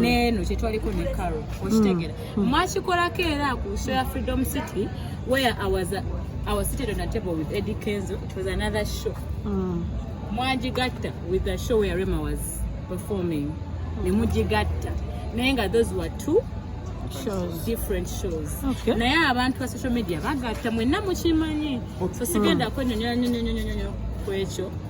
neeno kyetwaliko ne caro okitegera mm. mm. mwakikolako era ku show ya freedom city where i was, uh, I was seated on a table with eddie kenzo it was another show mm. mwagigatta with the show where rema was performing mm. nemugigatta naye nga those were two shows. different shows okay. naye abantu ba social media bagatta mwenna mukimanyi so sigenda mm. kwenyonyonyonyonyonyo kwekyo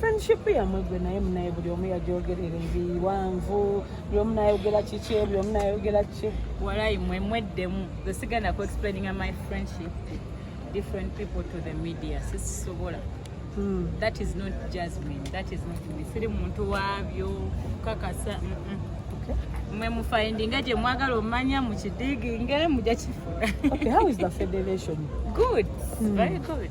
friendship yamwe gwe naye munaye buli omu yagyogerera ebiwanvu buli omu nayogera kiki buli omu nayogera kiki walayi mwe mweddemu ze sigenda ku explaining my friendship different people to the media sisisobola hmm. that is not jasmine that is not me siri muntu wabyo kukakasa mm -mm. mwe mufindinga gye mwagala omanya mukidiginge muja kifuna okay, how is the federation good mm. very good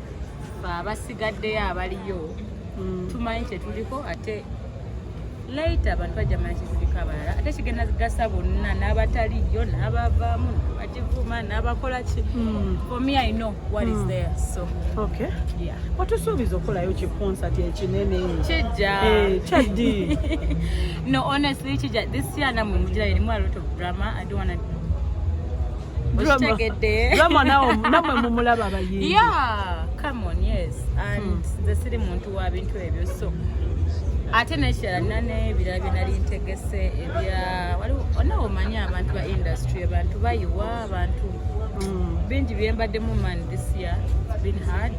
abasigaddeyo abaliyo mm. tumanyi kyetuliko ate laita abantu bajja manyi kyetuliko abalala ate kigenda gasa bonna n'abataliyo n'abavaamu n'abagivuma n'abakola ki mm. for me i know what is mm. there so okay yeah watusuubiza okukolayo ki concert ekinene kijja eh, kyaddi No, honestly, Chija, this year na mumujira elimu a lot of drama. I don't wanna Okitegedde. Drama nao namwe mumulaba abayimbi. Yeah, come on, yes. And hmm. the city muntu wa bintu ebyo so. Ate nekirala nane ebirala bye nali ntegese ebya waliwo onawo omanyi abantu ba industry abantu bayiwa abantu hmm. bingi byembaddemu man this year been hard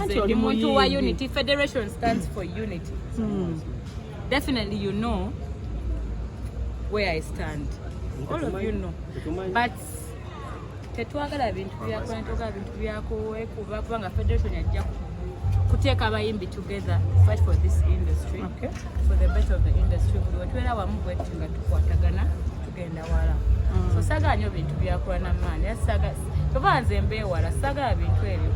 anti oli muntu wa unity federation stands for unity hmm. definitely you know where i stand all of you know but tetwagala bintu byakola netwagala bintu byakuwekuba kubanga federation yajja kuteeka abayimbi together fight for this industry okay. for the better of the industry buli wetwera wamu bwetyo nga tukwatagana tugenda wala mm. so saga nyo bintu byakola namaani Kyova nze mbeewala sagala bintu ebyo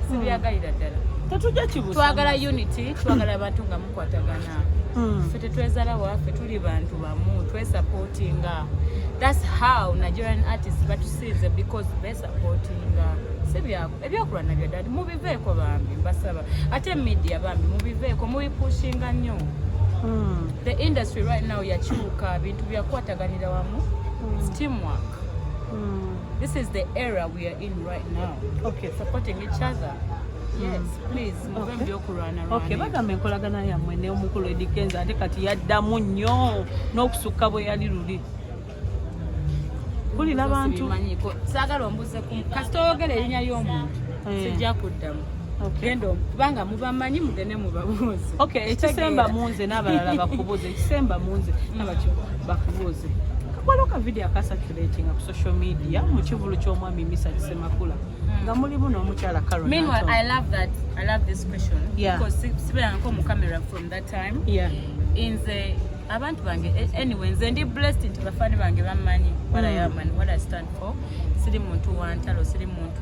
sibyagalira ddala tetujja kibusa twagala unity twagala abantu nga mukwatagana hmm. ffe tetwezala waffe tuli bantu bamu twesupportinga thats how nigerian artist batusinze because besupportinga sibyako ebyokulwana bya dadi mubiveeko bambi mbasaba ate media bambi mubiveeko mubipushinga nnyo hmm. the industry right now yakyuka bintu byakwataganira wamu hmm. steamwork This is the era we are in right now. Okay. Supporting each other. Yes, mm. please. Okay. Okay, bagamba enkolagana yammwe ne omukulu edikenza ate kati yaddamu nnyo n'okusukka bwe yali luli kulira abantu saagala ombuze kasita oyogera erinnya ly'omuntu eh. sijja kuddamu genda kubanga mubamanyi mugende mubabuuze ekisemba munze n'abalala bakubuuze ekisemba munze bakubuuze waliwo ka video akasaculatinga ku social media mu kivulu ky'omwami misa kisemakula hmm. nga mulimu n'omukyala sibeeranko mu camera from that time nze abantu bange eh, anyway nze ndi blessed nti bafaani bange bammanyi what i am and what i stand for siri muntu wantalo siri muntu